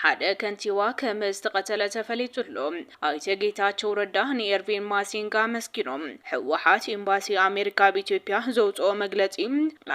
ሓደ ከንቲባ ከም ዝተቐተለ ተፈሊጡ ኣሎ። ኣይተ ጌታቸው ረዳ ንኤርቪን ማሲንጋ ኣመስጊኖም። ህወሓት ኢምባሲ ኣሜሪካ ኣብ ኢትዮጵያ ዘውፅኦ መግለፂ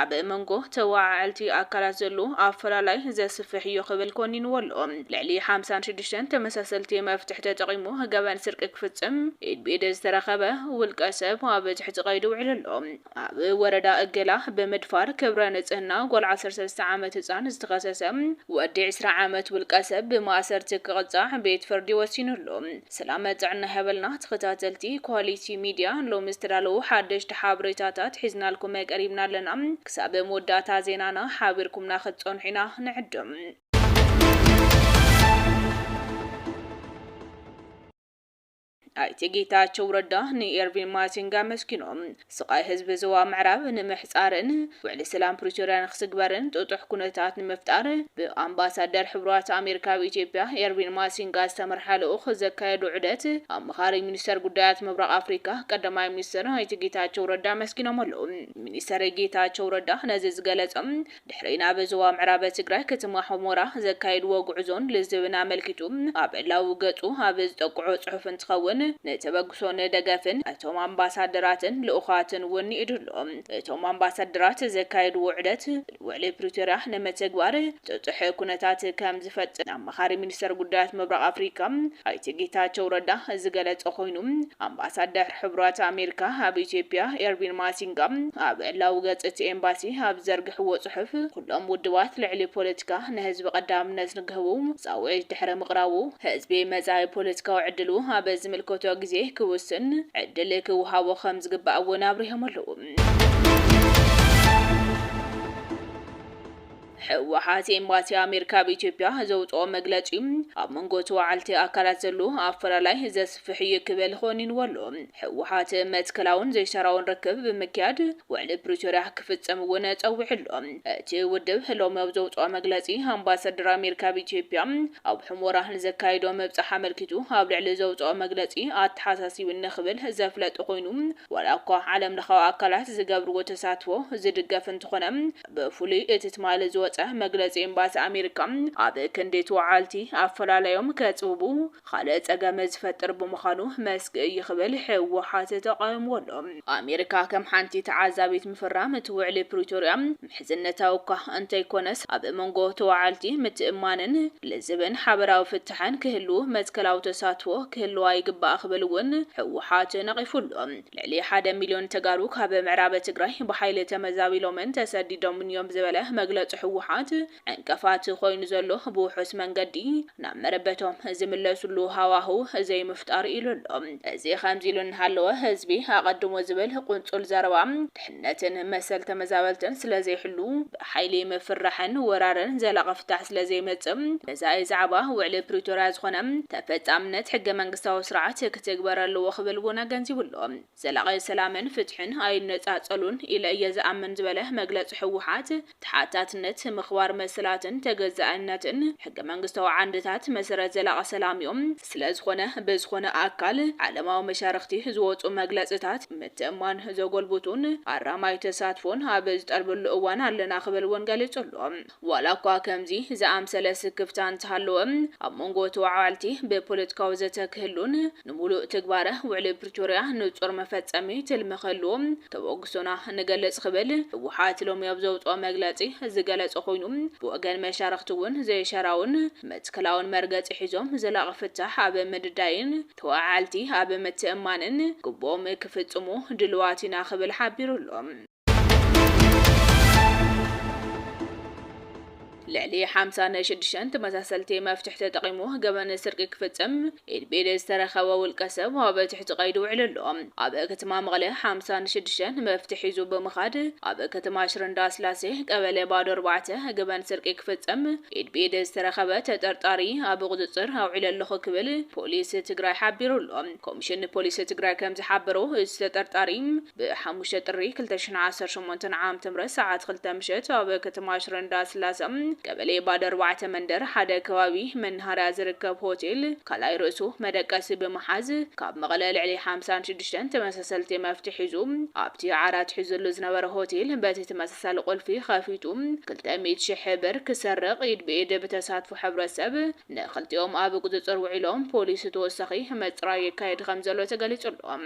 ኣብ መንጎ ተወዓዐልቲ ኣካላት ዘሎ ኣፈላላይ ዘስፍሕ እዩ ክብል ኮኒንዎ ኣሎ። ልዕሊ ሓምሳን ሽዱሽተን ተመሳሰልቲ መፍትሕ ተጠቒሙ ገበን ስርቂ ክፍፅም ኢድ ብኢድ ዝተረኸበ ውልቀ ሰብ ኣብ ትሕቲ ቀይዲ ውዒሉ ኣሎ። ኣብ ወረዳ እገላ ብምድፋር ክብረ ንፅህና ጓል ዓሰርተ ሰለስተ ዓመት ህፃን ዝተኸሰሰ ወዲ ዕስራ ዓመት ውልቀሰብ ብማእሰርቲ ክቕፃዕ ቤት ፍርዲ ወሲኑሉ። ሰላመ ጥዕና ይሃበልና ተኸታተልቲ ኳሊቲ ሚድያ ሎሚ ዝተዳለዉ ሓደሽቲ ሓበሬታታት ሒዝናልኩም ቀሪብና ኣለና ክሳብ መወዳእታ ዜናና ሓቢርኩምና ክትፀንሑ ኢና ንዕድም። ኣይተ ጌታቸው ረዳ ንኤርቪን ማሲንጋ ኣመስጊኖም፣ ስቓይ ህዝቢ ዞባ ምዕራብ ንምሕፃርን ውዕሊ ሰላም ፕሪቶርያ ንክትግበርን ጥጡሕ ኩነታት ንምፍጣር ብኣምባሳደር ሕቡራት ኣሜሪካ ኣብ ኢትዮጵያ ኤርቪን ማሲንጋ ዝተመርሓ ልኡኽ ዘካየዶ ዑደት ኣማኻሪ ሚኒስተር ጉዳያት ምብራቕ ኣፍሪካ ቀዳማይ ሚኒስትር ኣይተ ጌታቸው ረዳ ኣመስጊኖም ኣለው። ሚኒስተር ጌታቸው ረዳ ነዚ ዝገለፆም ድሕሪ ናብ ዞባ ምዕራብ ትግራይ ከተማ ሑሞራ ዘካየድዎ ጉዕዞን ልዝብን ኣመልኪቱ ኣብ ዕላዊ ገፁ ኣብ ዝጠቅዖ ፅሑፍ እንትኸውን ንተበግሶን ደገፍን እቶም ኣምባሳደራትን ልኡኻትን እውን ንኢዱ ኣሎ። እቶም ኣምባሳደራት ዘካየድዎ ዑደት ውዕሊ ፕሪቶርያ ንመተግባር ጥጡሕ ኩነታት ከም ዝፈጥር ኣማኻሪ ሚኒስተር ጉዳያት ምብራቕ ኣፍሪካ ኣይተ ጌታቸው ረዳ ዝገለፀ ኮይኑ ኣምባሳደር ሕቡራት ኣሜሪካ ኣብ ኢትዮጵያ ኤርቪን ማሲንጋ ኣብ ዕላዊ ገጽ እቲ ኤምባሲ ኣብ ዝዘርግሕዎ ጽሑፍ፣ ኩሎም ውድባት ልዕሊ ፖለቲካ ንህዝቢ ቀዳምነት ንክህቡ ጻውዒት ድሕሪ ምቕራቡ፣ ህዝቢ መጻኢ ፖለቲካዊ ዕድሉ ኣብ ዝምልከቶ ግዜ ክውስን ዕድል ክወሃቦ ከም ዝግባእ እውን ኣብሪሆም ኣለዉ። ህወሓት ኤምባሲ ኣሜሪካ ኣብ ኢትዮጵያ ዘውፅኦ መግለፂ ኣብ መንጎ ተወዓልቲ ኣካላት ዘሎ ኣፈላላይ ዘስፍሕ እዩ ክብል ኾኒንዎ ኣሎ። ህወሓት መትከላውን ዘይተራውን ርክብ ብምክያድ ውዕሊ ፕሪቶርያ ክፍፀም እውን ፀዊዑ ኣሎ። እቲ ውድብ ሎሚ ኣብ ዘውፅኦ መግለፂ ኣምባሳደር ኣሜሪካ ኣብ ኢትዮጵያ ኣብ ሑሞራ ንዘካይዶ ምብፃሕ ኣመልኪቱ ኣብ ልዕሊ ዘውፅኦ መግለፂ ኣተሓሳሲቡኒ ክብል ዘፍለጠ ኾይኑ ዋላ እኳ ዓለም ለኻዊ ኣካላት ዝገብርዎ ተሳትፎ ዝድገፍ እንተኾነ ብፍሉይ እቲ ትማሊ ዝወጸ መግለጺ ኤምባሲ ኣሜሪካ ኣብ ክንዲ እቲ ወዓልቲ ኣፈላላዮም ከጽብቡ ኻልእ ጸገም ዝፈጥር ብምዃኑ መስግእ እዩ ክብል ህወሓት ተቓዊምዎ ኣሎ። ኣሜሪካ ከም ሓንቲ ተዓዛቢት ምፍራም እቲ ውዕሊ ፕሪቶርያ ምሕዝነታዊ እኳ እንተይኮነስ ኣብ መንጎ ተወዓልቲ ምትእምማንን ልዝብን ሓበራዊ ፍታሕን ክህሉ መትከላዊ ተሳትፎ ክህልዋ ይግባእ ክብል እውን ህወሓት ነቒፉ ኣሎ። ልዕሊ ሓደ ሚልዮን ተጋሩ ካብ ምዕራብ ትግራይ ብሓይሊ ተመዛቢሎምን ተሰዲዶምን እዮም ዝበለ መግለፂ ህወሓት፣ ዕንቅፋት ኮይኑ ዘሎ ብውሑስ መንገዲ ናብ መረበቶም ዝምለስሉ ሃዋህው ዘይምፍጣር እዩ ኢሉ ኣሎ። እዚ ከምዚ ኢሉ እናሃለወ ህዝቢ ኣቐድሞ ዝብል ቁንፁል ዘረባ፣ ነትን መሰል ተመዛበልትን ስለዘይሕሉ፣ ብሓይሊ ምፍርራሕን ወራርን ዘላቒ ፍታሕ ስለዘይመጽእ፣ ገዛኢ ዛዕባ ውዕሊ ፕሪቶርያ ዝኾነ ተፈጻምነት ሕገ መንግስታዊ ስርዓት ክትግበር ኣለዎ ክብል እውን ኣገንዚቡ ኣሎ። ዘላቒ ሰላምን ፍትሕን ኣይነጻጸሉን ኢለ እየ ዝኣምን ዝበለ መግለጺ ህወሓት፣ ተሓታትነት፣ ምኽባር መሰላትን ተገዛእነትን ሕገ መንግስታዊ ዓንድታት መሰረት ዘላቒ ሰላም እዮም። ስለዝኾነ ብዝኾነ ኣካል ዓለማዊ መሻርኽቲ ዝወፁ መግለፅታት ምትእምማን ዘጎልብቱን ኣራማይ ተሳትፎን ኣብ ዝጠልበሉ እዋን ኣለና ክብል እውን ገሊፁ ኣሎ። ዋላ እኳ ከምዚ ዝኣምሰለ ስክፍታ እንተሃለወ ኣብ መንጎ ተወዓዋልቲ ብፖለቲካዊ ዘተ ክህሉን ንሙሉእ ትግባረ ውዕሊ ፕሪቶርያ ንፁር መፈፀሚ ትልሚ ክህልዎ ተበግሶና ንገልጽ ክብል ህወሓት ሎሚ ኣብ ዘውጽኦ መግለጺ ዝገለጸ ኮይኑ፣ ብወገን መሻርኽቲ እውን ዘይሻራውን መትከላውን መርገጺ ሒዞም ዘላቒ ፍታሕ ኣብ ምድዳይን ተወዓዓልቲ ኣብ ምትእምማንን ግቡኦም ክፍጽሙ ድሉዋት ኢና ክብል ሓቢሩ ኣሎ። ልዕሊ ሓምሳ ንሽድሽተን ተመሳሰልቲ መፍትሕ ተጠቒሙ ገበን ስርቂ ክፍጽም ኢድ ብኢድ ዝተረኸበ ውልቀ ሰብ ኣብ ትሕቲ ቀይዲ ውዒሉ ኣሎ። ኣብ ከተማ መቐለ ሓምሳ ንሽድሽተን መፍትሕ ሒዙ ብምኻድ ኣብ ከተማ ሽረ እንዳስላሴ ቀበሌ ባዶ ኣርባዕተ ገበን ስርቂ ክፍጽም ኢድ ብኢድ ዝተረኸበ ተጠርጣሪ ኣብ ቁጽጽር ኣውዒለ ኣለኹ ክብል ፖሊስ ትግራይ ሓቢሩ ኣሎ። ኮሚሽን ፖሊስ ትግራይ ከምዝሓበሮ እቲ ተጠርጣሪ ብ ሓሙሽተ ጥሪ ክልተ ሽሕን ዓሰርተ ሸሞንተን ዓም ትምህርት ሰዓት ክልተ ምሸት ኣብ ከተማ ሽረ እንዳስላሰ ቀበሌ ባድ ኣርባዕተ መንደር ሓደ ከባቢ መናሃርያ ዝርከብ ሆቴል ካልኣይ ርእሱ መደቀሲ ብምሓዝ ካብ መቐለ ልዕሊ ሓምሳን ሽዱሽተን ተመሳሰልቲ መፍትሕ ሒዙ ኣብቲ ዓራት ሒዙሉ ዝነበረ ሆቴል በቲ ተመሳሳሊ ቁልፊ ከፊቱ ክልተ ሚእቲ ሽሕ ብር ክሰርቕ ኢድ ብኢድ ብተሳትፎ ሕብረተሰብ ንክልቲኦም ኣብ ቁፅፅር ውዒሎም፣ ፖሊስ ተወሳኺ ምፅራይ የካይድ ከምዘሎ ተገሊፁ ኣሎ።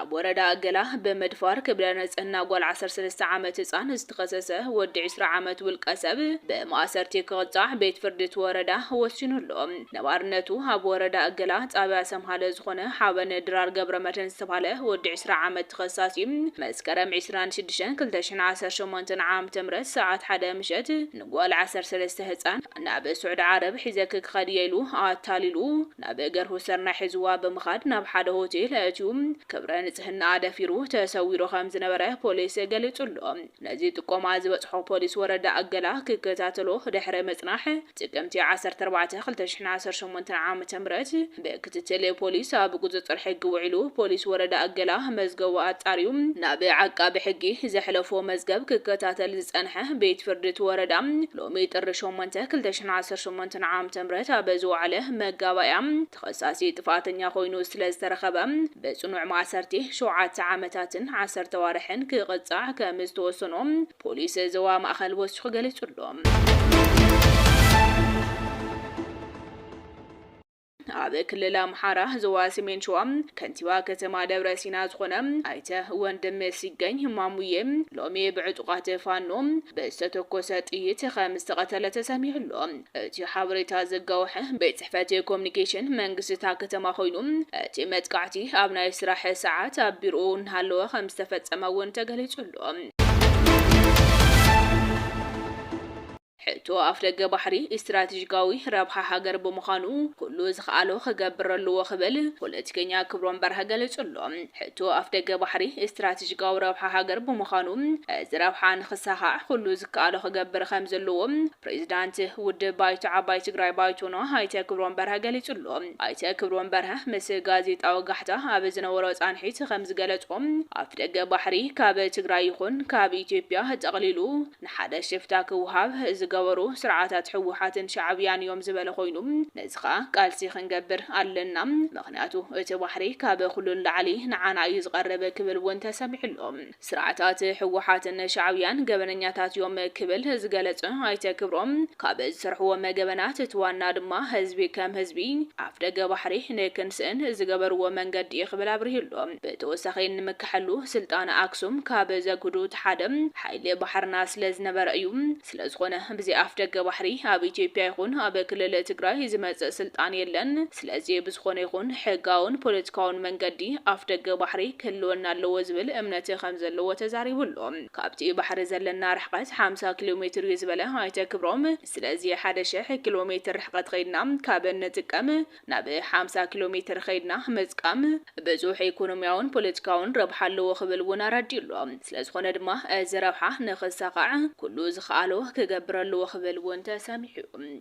ኣብ ወረዳ ገላ ብምድፋር ክብረ ንፅህና ጓል ዓሰርተ ሰለስተ ዓመት ህፃን ዝተኸሰሰ ወዲ ዕስራ ዓመት ውልቀሰብ ብማእሰርቲ ክቕፃዕ ቤት ፍርዲ እቲ ወረዳ ወሲኑ ኣሎ። ነባርነቱ ኣብ ወረዳ እገላ ጣብያ ሰምሃለ ዝኾነ ሓበን ድራር ገብረመድህን ዝተብሃለ ወዲ ዕስራ ዓመት ተኸሳሲ፣ መስከረም ዕስራን ሽዱሽተን ክልተ ሽሕን ዓሰርተ ሸሞንተ ዓ.ም ሰዓት ሓደ ምሸት ንጓል ዓሰርተ ሰለስተ ህጻን ናብ ሱዕዲ ዓረብ ሒዘኪ ክኸድ እየ ኢሉ ኣታሊሉ ናብ ገርሁ ሰርናይ ሒዝዋ ብምኻድ ናብ ሓደ ሆቴል ኣእትዩ ክብረ ንጽህናኣ ደፊሩ ተሰዊሩ ከምዝነበረ ፖሊስ ገሊጹ'ሎ። ነዚ ጥቆማ ዝበጽሖ ፖሊስ ወረዳ እገላ ክከታተሎ ድሕሪ ምጽናሕ፣ ጥቅምቲ ዓሰርተ ኣርባዕተ ክልተ ሽሕን ዓሰርተ ሸሞንተን ዓመተ ምህረት ብክትትል ፖሊስ ኣብ ቁፅፅር ሕጊ ውዒሉ ፖሊስ ወረዳ እገላ መዝገቡ ኣፃርዩ ናብ ዓቃቢ ሕጊ ዘሕለፎ መዝገብ ክከታተል ዝፀንሐ ቤት ፍርዲ እቲ ወረዳ ሎሚ ጥሪ ሸሞንተ ክልተ ሽሕን ዓሰርተ ሸሞንተን ዓመተ ምህረት ኣብ ዝወዓለ መጋባእያ ተኸሳሲ ጥፍኣተኛ ኮይኑ ስለ ዝተረኸበ ብፅኑዕ ማእሰርቲ ሸውዓተ ዓመታትን ዓሰርተ ኣዋርሕን ክቕፃዕ ከም ዝተወሰኖ ፖሊስ ዞባ ማእኸል ወሲኹ ገሊፁ ኣሎ። ኣብ ክልል ኣምሓራ ዞባ ሰሜን ሸዋ ከንቲባ ከተማ ደብረ ሲና ዝኾነ ኣይተ ወንድም ሲገኝ ማሙዬ ሎሚ ብዕጡቓት ፋኖ ብዝተተኮሰ ጥይት ከም ዝተቐተለ ተሰሚዑ ኣሎ። እቲ ሓበሬታ ዘጋወሐ ቤት ጽሕፈት ኮሚኒኬሽን መንግስቲ እታ ከተማ ኮይኑ እቲ መጥቃዕቲ ኣብ ናይ ስራሕ ሰዓት ኣብ ቢሮኡ እናሃለወ ከም ዝተፈጸመ እውን ተገሊጹ ኣሎ። ኣሎ። ሕቶ ኣፍደገ ባሕሪ ኢስትራቴጂካዊ ረብሓ ሃገር ብምዃኑ ኩሉ ዝክኣሎ ክገብር ኣለዎ ክብል ፖለቲከኛ ክብሮም በርሀ ገሊጹ ኣሎ። ሕቶ ኣፍደገ ባሕሪ ኢስትራቴጂካዊ ረብሓ ሃገር ብምዃኑ እዚ ረብሓ ንክሳኻዕ ኩሉ ዝከኣሎ ክገብር ከምዘለዎ ፕሬዚዳንት ውድብ ባይቶ ዓባይ ትግራይ ባይቶና ኣይተ ክብሮም በርሀ ገሊጹ ኣሎ። ኣይተ ክብሮም በርሀ ምስ ጋዜጣዊ ጋሕታ ኣብ ዝነበሮ ፃንሒት ከምዝገለፆ፣ ኣፍደገ ባሕሪ ካብ ትግራይ ይኹን ካብ ኢትዮጵያ ጠቕሊሉ ንሓደ ሽፍታ ክወሃብ ዝገበሩ ስርዓታት ህወሓትን ሻዕብያን እዮም ዝበለ ኮይኑ፣ ነዚ ከዓ ቃልሲ ክንገብር ኣለና ምኽንያቱ እቲ ባሕሪ ካብ ኹሉ ንላዕሊ ንዓና እዩ ዝቐርብ ክብል እውን ተሰሚዑ ኣሎ። ስርዓታት ህወሓትን ሻዕብያን ገበነኛታት ዮም ክብል ዝገለፀ ኣይተ ክብሮም፣ ካብ ዝሰርሕዎ መገበናት እቲ ዋና ድማ ህዝቢ ከም ህዝቢ ኣፍደገ ባሕሪ ንክንስእን ዝገበርዎ መንገዲ ዩ ክብል ኣብሪሁ ኣሎ። ብተወሳኺ ንምካሐሉ ስልጣነ ኣክሱም ካብ ዘግህዱ እቲ ሓደ ሓይሊ ባሕርና ስለዝነበረ እዩ። ስለዝኾነ ብዘይ ኣፍደገ ባሕሪ ኣብ ኢትዮጵያ ይኹን ኣብ ክልል ትግራይ ዝመፅእ ስልጣን የለን። ስለዚ ብዝኾነ ይኹን ሕጋውን ፖለቲካውን መንገዲ ኣፍደገ ባሕሪ ክህልወና ኣለዎ ዝብል እምነት ከምዘለዎ ተዛሪቡ ኣሎ። ካብቲ ባሕሪ ዘለና ርሕቐት ሓምሳ ኪሎ ሜትር እዩ ዝበለ ኣይተ ክብሮም፣ ስለዚ ሓደ ሽሕ ኪሎ ሜትር ርሕቐት ኸይድና ካብ እንጥቀም፣ ናብ ሓምሳ ኪሎ ሜትር ኸይድና ምጥቃም ብዙሕ ኢኮኖሚያውን ፖለቲካውን ረብሓ ኣለዎ ክብል እውን ኣረዲኡ ኣሎ። ስለዝኾነ ድማ እዚ ረብሓ ንኽሳኻዕ ኩሉ ዝኸኣሎ ክገብር ኣለዎ ክብል እውን ተሰሚዑ እዩ።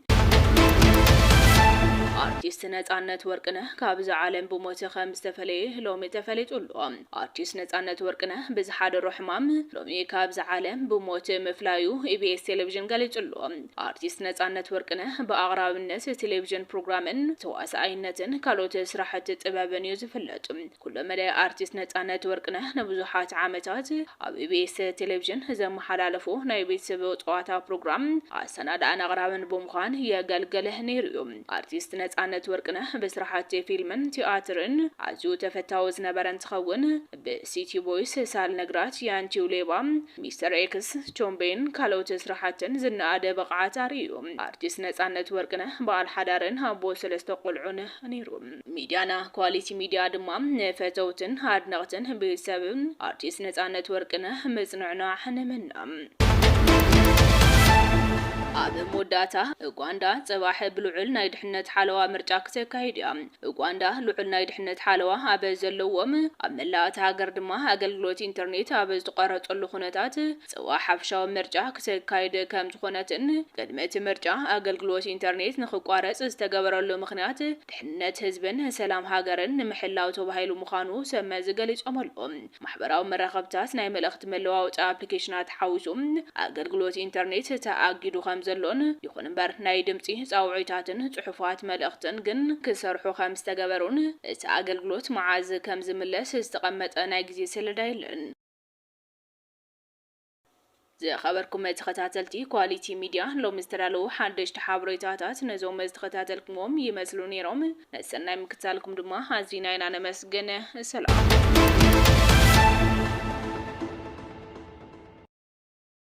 ኣርቲስት ነፃነት ወርቅነህ ካብዛ ዓለም ብሞት ከምዝተፈለየ ሎሚ ተፈሊጡ ኣሎ። ኣርቲስት ነፃነት ወርቅነህ ብዝሓደሮ ሕማም ሎሚ ካብዛ ዓለም ብሞት ምፍላዩ ኢቢኤስ ቴሌቪዥን ገሊፁ ኣሎ። ኣርቲስት ነፃነት ወርቅነህ ብኣቕራብነት ቴሌቪዥን ፕሮግራምን ተዋሳኣይነትን ካልኦት ስራሕቲ ጥበብን እዩ ዝፍለጥ። ኩለመዳይ ኣርቲስት ነፃነት ወርቅነህ ንብዙሓት ዓመታት ኣብ EBS ቴሌቪዥን ዘመሓላለፎ ናይ ቤተሰብ ፀዋታ ፕሮግራም ኣሰናዳእን ኣቕራብን ብምዃን የገልግል ነይሩ እዩ። ኣርቲስት ነፃነት ወርቅነህ ብስራሕቲ ፊልምን ቲያትርን ኣዝዩ ተፈታዊ ዝነበረ እንትኸውን፣ ብ ሲቲ ቦይስ ሳል ነግራት ያንቺው ሌባ ሚስተር ኤክስ ቾምቤን ካልኦት ስራሓትን ዝነኣደ ብቕዓት ኣርእዩ። ኣርቲስት ነጻነት ወርቅነህ በዓል ሓዳርን ኣቦ ሰለስተ ቆልዑን ነይሩ። ሚድያና ኳሊቲ ሚድያ ድማ ንፈተውትን ኣድነቕትን ቤተሰብ ኣርቲስት ነጻነት ወርቅነህ ምጽንዕናዕ ንምነ። ኣብ መወዳእታ፣ ኡጋንዳ ጽባሕ ብልዑል ናይ ድሕነት ሓለዋ ምርጫ ክተካይድ እያ። ኡጋንዳ ልዑል ናይ ድሕነት ሓለዋ ኣብ ዘለዎም፣ ኣብ መላእ እታ ሃገር ድማ ኣገልግሎት ኢንተርኔት ኣብ ዝተቋረጸሉ ኩነታት ጽባሕ ሓፈሻዊ ምርጫ ክተካይድ ከምዝኾነትን ቅድሚ እቲ ምርጫ ኣገልግሎት ኢንተርኔት ንኽቋረጽ ዝተገበረሉ ምኽንያት ድሕነት ህዝብን ሰላም ሃገርን ንምሕላው ተባሂሉ ምዃኑ ሰብ መዚ ገሊጾም'ሎ። ማሕበራዊ መራኸብታት፣ ናይ መልእኽቲ መለዋወጢ ኣፕሊኬሽናት ሓዊሱ ኣገልግሎት ኢንተርኔት ተኣጊዱ ከምዘሎን፣ ይኹን እምበር ናይ ድምጺ ጻውዒታትን ጽሑፋት መልእኽትን ግን ክሰርሑ ከምዝተገበሩን እቲ ኣገልግሎት መዓዝ ከምዝምለስ ዝተቐመጠ ናይ ግዜ ሰለዳ የለን። ዝኸበርኩም ተኸታተልቲ ኳሊቲ ሚድያ ሎሚ ዝተዳለዉ ሓደሽቲ ሓበሬታታት ነዞም ዝተኸታተልክምዎም ይመስሉ ነይሮም። ንሰናይ ምክትታልኩም ድማ ኣዚና ኢና ነመስግን። ሰላም።